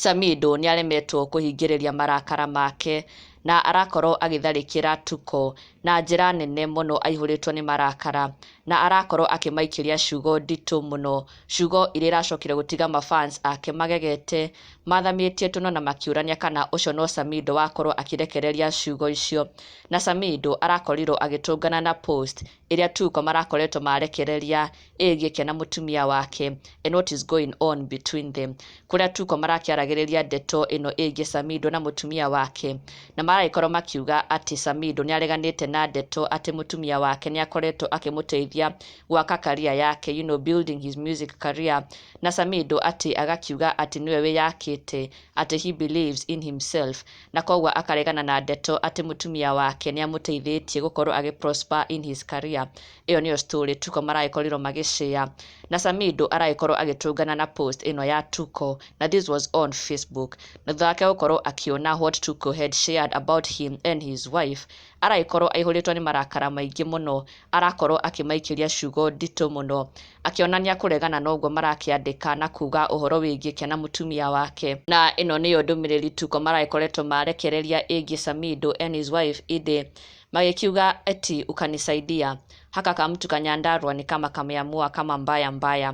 Samido nĩaremetwo kũhingĩrĩria marakara make na arakorwo agĩtharĩkĩra Tuko na njĩra nene mũno aihũrĩtwo nĩ marakara na arakorwo akĩmaikĩria ciugo nditũ mũno, ciugo iria iracokire gũtiga ma fans ake magegete, mathamĩtie tũnua na makĩũrania kana ũcio no Samido wakorwo akĩrekereria ciugo icio. Na Samido arakorirwo agĩtũngana na post ĩrĩa Tuko marakoretwo marekereria ĩgĩkĩa na mũtumia wake and what is going on between them kũrĩa Tuko marakĩaragĩrĩria ndeto ĩno ĩgiĩ Samido na mũtumia wake na maragĩkorwo makiuga atĩ Samido nĩ areganĩte na ndeto atĩ mũtumia wake nĩ akoretwo akĩmũteithia gwaka career yake you know building his music career na Samido atĩ agakiuga atĩ nĩwe wĩyakĩte atĩ he believes in himself na kwoguo akaregana na ndeto atĩ mũtumia wake nĩamũteithĩtie gũkorwo agĩ prosper in his career ĩyo nĩyo story Tuko maragĩkorirwo magĩ share na Samido aragĩkorwo agĩtũngana na post ĩno ya Tuko na this was on Facebook na thutha wake gũkorwo akĩona what Tuko had shared about him and his wife aragĩkorwo aihũrĩtwo nĩ marakara maingĩ mũno, arakorwo akĩmaikĩria ciugo nditũ mũno, akĩonania kũregana na ũguo marakĩandĩka na kuuga ũhoro wĩgiĩ ke na mũtumia wake. Na ĩno nĩyo ndũmĩrĩri Tuko maragĩkoretwo marekereria ĩgiĩ Samido and his wife Ide, magĩkiuga eti, Ukanisaidia, Haka kamtu ka Nyandarua ni kama kameamua kama mbaya mbaya.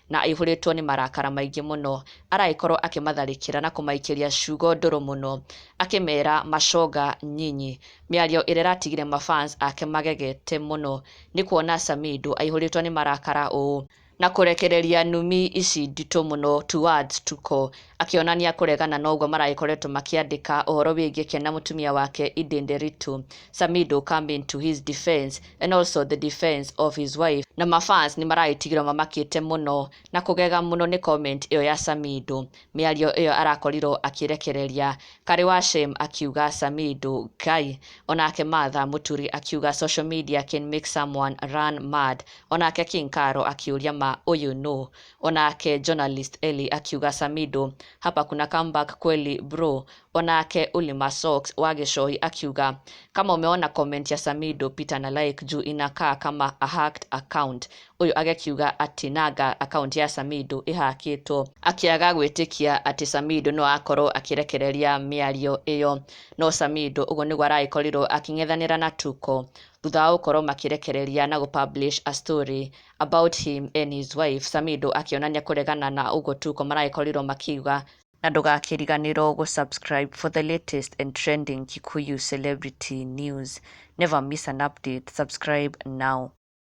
na aihũrĩtwo nĩ marakara maingĩ mũno, aragĩkorwo akĩmatharĩkĩra na kũmaikĩria ciugo ndũrũ mũno, akĩmera macoga nyinyi, mĩario ĩrĩa ĩratigire ma fans ake magegete mũno nĩ kuona Samido aihũrĩtwo nĩ marakara ũũ, na kũrekereria numi ici nditũ mũno towards Tuko. Akĩonania kũregana na ũguo maragĩkoretwo makĩandĩka ũhoro wĩgiĩ Ken na mũtumia wake Eden Nderitu, Samido come into his defense and also the defense of his wife na ma fans nĩ maragĩtigĩrwo mamakĩte mũno na kũgega mũno nĩ comment ĩyo ya Samido. Mĩario ĩyo arakorirwo akĩrekereria, Karĩ wa Shem akiuga Samido Ngai, onake Martha Mũturi akiuga social media can make someone run mad, onake King Karo akĩũria ma ũyũ nũ? Onake journalist Elly akiuga Samido hapa kuna comeback kweli bro. Onake Ulima Socks wa Gĩcoi akiuga kama umeona comment ya Samido pita na like juu inakaa kama a hacked account. Ũyũ agekiuga ati nanga account ya Samido ĩhakĩtwo akĩaga gwĩtĩkia atĩ Samido no akorwo akĩrekereria mĩario ĩyo. No Samido ũguo nĩguo aragĩkorirwo akĩng'ethanĩra na Tuko thutha wa gũkorwo makĩrekereria na gũpublish a story about him and his wife Samido akĩonania kũregana na ũguo Tuko maragĩkorirwo makiuga na ndũgakĩriganĩrwo gũ subscribe for the latest and trending Kikuyu celebrity news never miss an update subscribe now